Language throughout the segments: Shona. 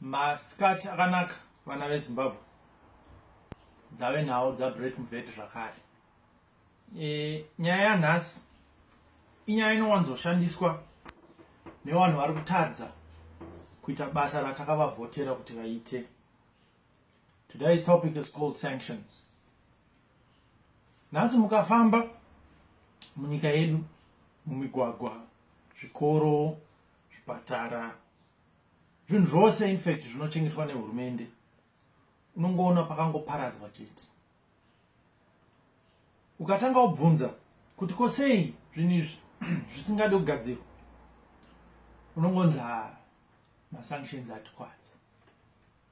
masikati akanaka vana vezimbabwe dzave nhau dzabreak mvet zvakare e, nyaya yanhasi inyaya inowanzoshandiswa nevanhu vari kutadza kuita basa ratakavavhotera kuti vaite today's topic is called sanctions nhasi mukafamba munyika yedu mumigwagwa zvikoro zvipatara zvinhu zvose infact zvinochengetwa nehurumende unongoona pakangoparadzwa chete ukatanga wabvunza kuti ko sei zvinhu izvi zvisingade kugadzirwa unongonzi masanctions atikwadza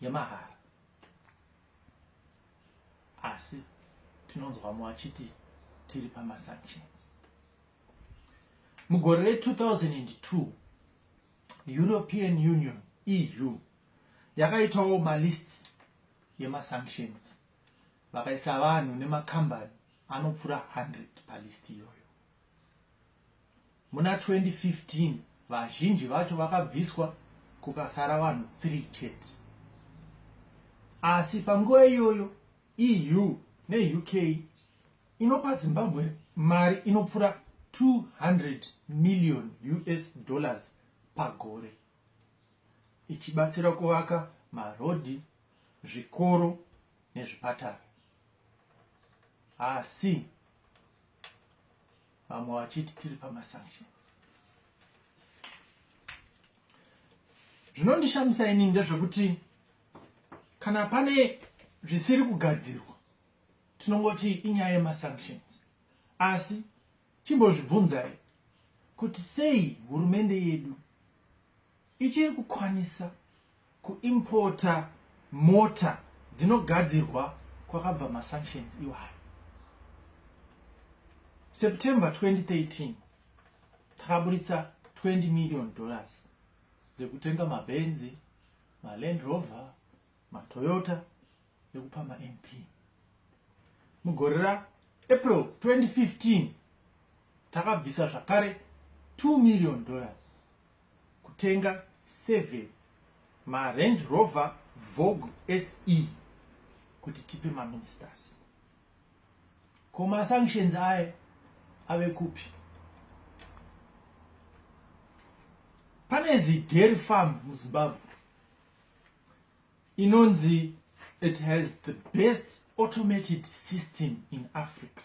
yemahara asi tinonzwa mumwe achiti tiri pamasanctions mugore re2002 european union eu yakaitawo malist yemasanctions vakaisa vanhu nemakambani anopfuura 100 palist iyoyo Muna 2015 vazhinji vacho vakabviswa kukasara vanhu 3 chete. Asi panguva iyoyo EU neUK inopa Zimbabwe mari inopfura 200 million US dollars pagore ichibatsira kuvaka marodhi, zvikoro nezvipatara. Asi vamwe vachiti tiri pamasanctions zvinondishamisa inini ndezvekuti kana pane zvisiri kugadzirwa tinongoti inyaya yemasanctions asi chimbozvibvunzai kuti sei hurumende yedu ichiri kukwanisa kuimporta mota dzinogadzirwa kwakabva masanctions iwayo september 2013 takaburitsa 20 million dollars dzekutenga mabhenzi maland rover matoyota ekupa mamp mugore raapril 2015 takabvisa zvakare 2 million dollars kutenga 7 marange rover vogue se kuti tipe maministers ko masanctions aye ave kupi pane zidairy farm muzimbabwe inonzi it has the best automated system in africa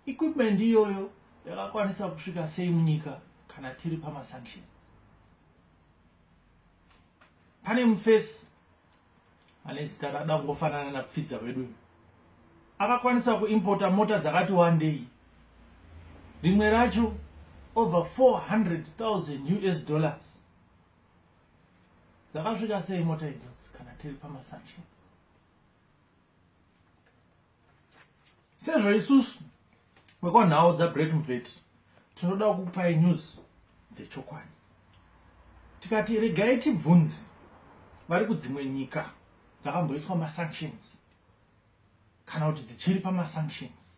equipment iyoyo yakakwanisa kusvika sei munyika kana tiri pamasanctions pane mufesi ane zita radangofanana napfidza wedu akakwanisa kuimpota mota dzakati wandei rimwe racho over 400 000 us dollars dzakasvika sei mota idzodzi kana tiri pamasanctions sezvo isusu vekwanhau dzagreat mveti tinoda kupai news dzechokwadi tikati regai tibvunzi vari kudzimwe nyika dzakamboiswa masanctions kana kuti dzichiri pamasanctions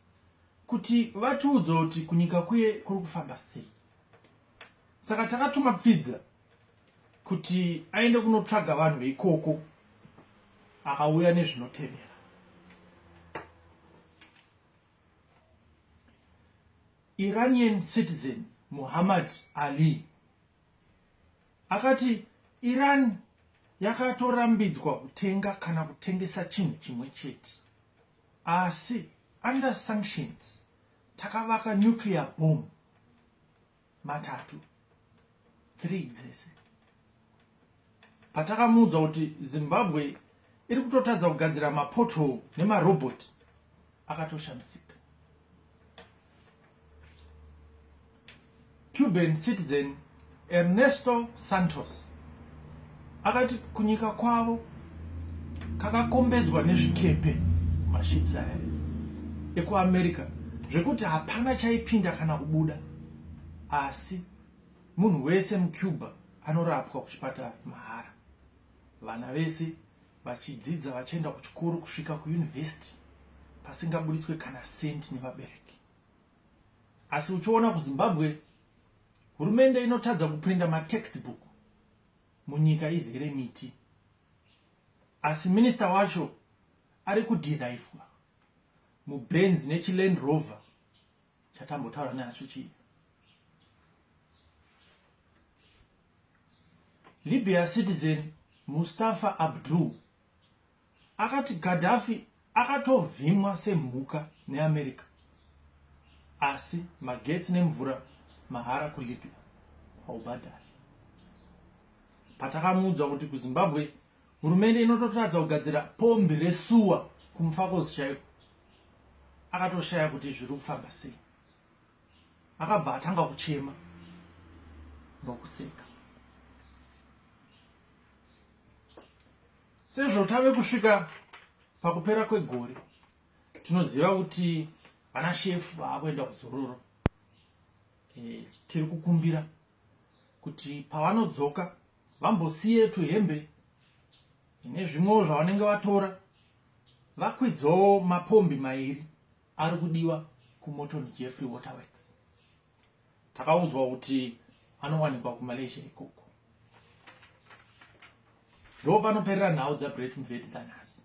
kuti vatiudze kuti kunyika kuye kuri kufamba sei saka takatuma pfidza kuti aende kunotsvaga vanhu veikoko akauya nezvinotevera iranian citizen muhammad ali akati iran yakatorambidzwa kutenga kana kutengesa chinhu chimwe chete asi under sanctions takavaka nuclear bomb matatu three dzese patakamuudza kuti zimbabwe iri kutotadza kugadzira mapoto nemarobot akatoshamisika cuban citizen ernesto santos akati kunyika kwavo kakakombedzwa nezvikepe maships aya ekuamerica zvekuti hapana chaipinda kana kubuda asi munhu wese mucuba anorapwa kuchipatara mahara vana vese vachidzidza vachienda kuchikoro kusvika kuyunivhesiti pasingaburitswe kana senti nevabereki asi uchiona kuzimbabwe hurumende inotadza kuprinda matextbook munyika izere miti asi minister wacho ari kudhiraivhwa mubenz nechiland rover chatambotaura nehacho chii libya citizen mustafa abdul akati gadhafi akatovhimwa semhuka neamerica asi magetsi nemvura mahara kulibya haubhadhari patakamuudzwa kuti kuzimbabwe hurumende inototadza kugadzira pombi resuwa kumufakozi chaiko akatoshaya kuti zviri kufamba sei akabva atanga kuchema nokuseka sezvo tave kusvika pakupera kwegore tinoziva kuti vana shefu vaakuenda kuzororo e, tiri kukumbira kuti pavanodzoka vambosiye tuhembe nezvimwewo zvavanenge vatora vakwidzawo mapombi mairi ari kudiwa kumoton jeffrey waterworks takaudzwa kuti anowanikwa kumalaysia ikoko ndo panoperera nhau dzagreat mveti dzanhasi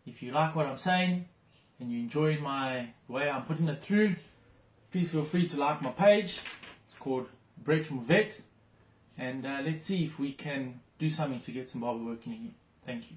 if you like what i'm saying and you enjoy my way i'm putting it through please feel free to like my page it's called break mveti and uh, let's see if we can do something to get Zimbabwe working again. Thank you.